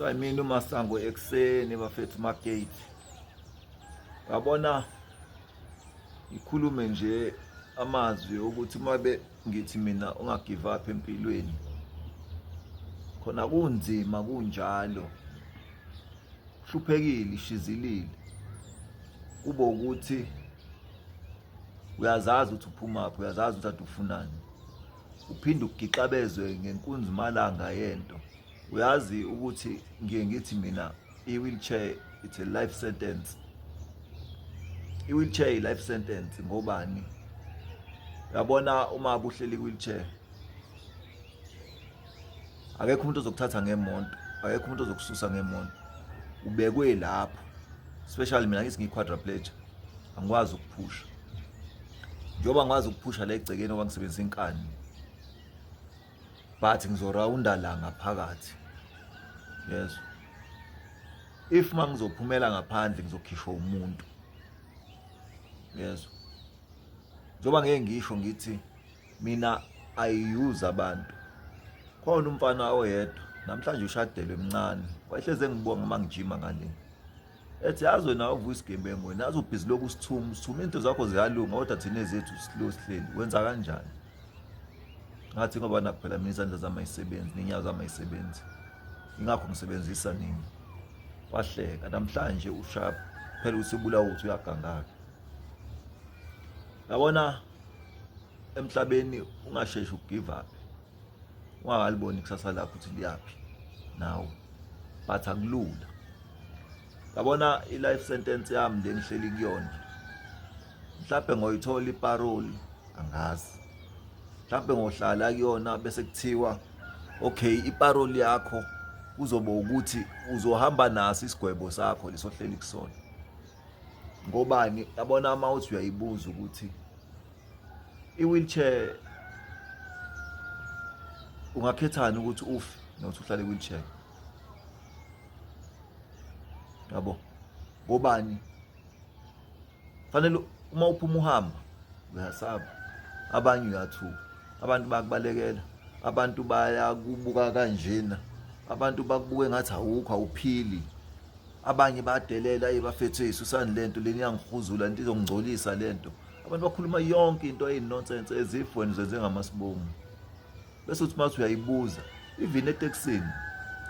so i mean umasango ekuseni bafethu magate yabona ngikhulume nje amazwi ukuthi uma be ngithi mina ungagive up empilweni khona kunzima kunjalo hluphekile ishizilile kube ukuthi uyazazi ukuthi uphumaphi uyazazi ukuthi adufunani uphinde ugixabezwe ngenkunzimalanga yento uyazi ukuthi ngiye ngithi mina i-wheelchair it's a life sentence i-wheelchair i-life sentence ngobani uyabona uma kuhleli i-wheelchair akekho umuntu ozokuthatha ngemonto akekho umuntu ozokususa ngemonto ubekwe lapho especially mina ngithi ngiyi-quadraplegia angikwazi ukuphusha njengoba ngikwazi ukuphusha la egcekeni oba ngisebenzisa inkani but ngizorawunda la ngaphakathi yezo if uma ngizophumela ngaphandle ngizokhishwa umuntu yezo njengoba ngeke ngisho ngithi mina i use abantu khona umfana oyedwa namhlanje ushadelwe mncane wayehleze ngibonga uma ngijima ngale ethi yazi wena uvuka isigebengu wena yazi ubhizi lokhu sithuma sithuma into zakho ziyalunga kodwa thina ezethu slow sihleli wenza kanjani ngathi ngoba nakuphela mina izandla zami ayisebenzi nenyawo zami ayisebenzi ingakho ngisebenzisa nini wahleka namhlanje ushap phela ukuthi ubulawa ukuthi uyagangaka yabona emhlabeni ungasheshi ugive up ungakaliboni ikusasa lakho ukuthi liyaphi nawe but akulula yabona i-life sentence yami le ngihleli kuyona mhlawumbe ngoyithola iparoli angazi mhlawumbe ngohlala kuyona bese kuthiwa okay iparoli yakho kuzoba ukuthi uzohamba naso isigwebo sakho lesohleli kusona ngobani yabona uma uthi uyayibuza ukuthi i-wheelchair ungakhethani ukuthi ufe nokuthi uhlale i-wheelchair yabo ngobani fanele uma uphuma uhamba uyasaba abanye uyathuka abantu bakubalekela abantu bayakubuka kanjena abantu bakubuke ngathi awukho awuphili abanye badelela ebafethu esusanilento leni yangihuzula into izongcolisa lento abantu bakhuluma yonke into eyinonsense ezif wena uzenze ngamasibomu bese uthi mathi uyayibuza even etekisini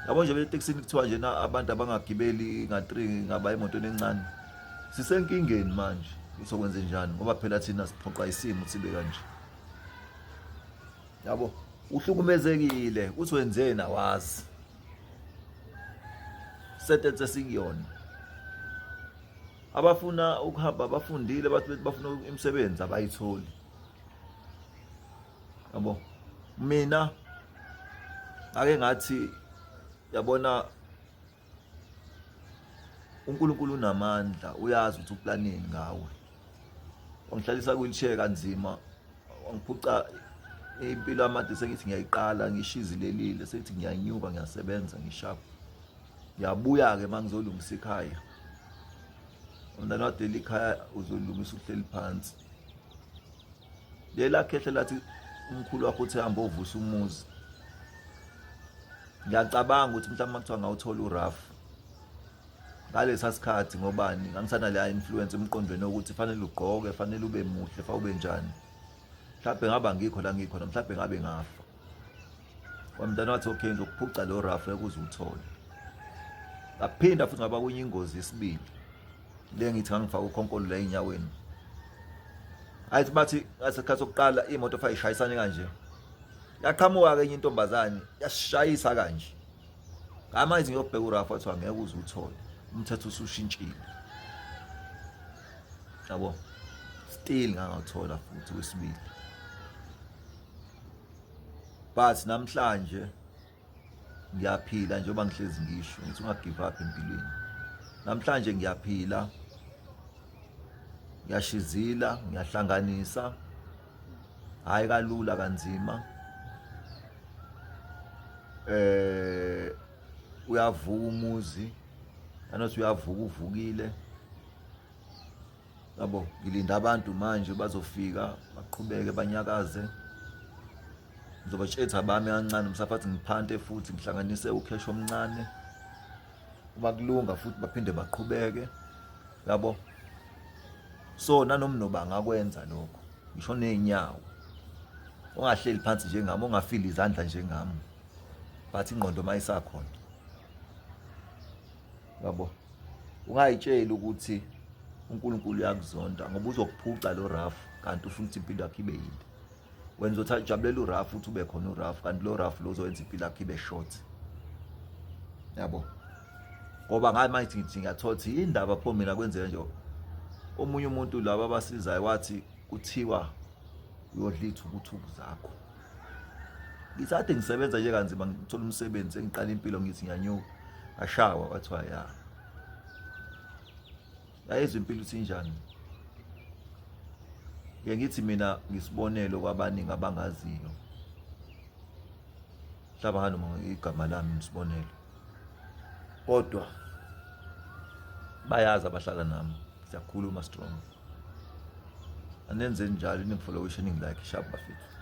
yabo nje betekisini kuthiwa nje na abantu abangagibeli nga-three ngaba emotweni encane sisenkingeni manje usokwenze njani ngoba phela thina siphoqa isimo sibe kanje yabo uhlukumezekile uthi wenzeni awazi sentence sikuyona abafuna ukuhamba abafundile bathi bethi bafuna imisebenzi abayitholi yabo mina ake ngathi yabona uNkulunkulu unamandla uyazi ukuthi uplaneni ngawe wangihlalisa kuyilisheka kanzima wangiphuca impilo amade sengithi ngiyayiqala ngishizilelile sengithi ngiyanyuka ngiyasebenza ngishapha ngiyabuya-ke uma ngizolungisa ikhaya umntana wadela ikhaya uzolungisa uhleli phansi lela khehle lathi umkhulu wakho uthi hamba ovusa umuzi ngiyacabanga ukuthi mhlawumbe uma kuthiwa ngawuthola urafu ngalesa sikhathi ngobani ngangisana leya influence emqondweni wokuthi fanele ugqoke fanele ube muhle fa ube njani mhlawumbe ngaba ngikho la ngikhona mhlawumbe ngabe ngafa wamntana wathi okay ngizokuphuca lo rafu ekuze uthole ngaphinda futhi ngaba kunye ingozi yesibili le ngithi ngangifaka ukhonkolo la enyaweni ayithi bathi ngasikhathi sokuqala imoto fa ishayisane kanje yaqhamuka ke enye intombazane yashayisa kanje ngama izinto yobheka urafu wathi angeke uze uthole umthetho usushintshile yabo still ngangawuthola futhi wesibili but namhlanje ngiyaphila njengoba ngihlezi ngisho ngithi unga give up empilweni namhlanje ngiyaphila ngiyashizila ngiyahlanganisa hayi kalula kanzima eh uyavuka umuzi anothi uyavuka uvukile yabo ngilinda abantu manje bazofika baqhubeke banyakaze ngizobatshetha bami kancane msaphathi ngiphante futhi ngihlanganise ukhesho omncane uma kulunga futhi baphinde baqhubeke yabo so nanomnoba angakwenza lokho ngisho nezinyawo ongahleli phansi njengami ongafili izandla njengami but ingqondo mayisakhona yabo ungayitsheli ukuthi uNkulunkulu uyakuzonda ngoba uzokuphuca lo rough kanti ufuna ukuthi impilo yakhe ibe yinde wenza ukuthi ajabulela urough futhi ube khona urough kanti lo rough lo uzowenza impilo yakhe ibe short yabo ngoba ngathi manje ngithi ngiyathola ukuthi indaba pho mina kwenzeka nje omunye umuntu laba abasizayo wathi kuthiwa uyodlitha ukuthuku zakho ngisade ngisebenza nje kanzima ngithola umsebenzi sengiqala impilo ngithi ngiyanyuka ngashawa kwathiwa ya yayezwa impilo ukuthi injani ye ngithi mina ngisibonelo kwabaningi abangaziyo mhlaba nganoma igama lami ngisibonelo kodwa bayazi abahlala nami siyakhuluma strong anenze njalo ningifollowishe ningilike sharp bafethu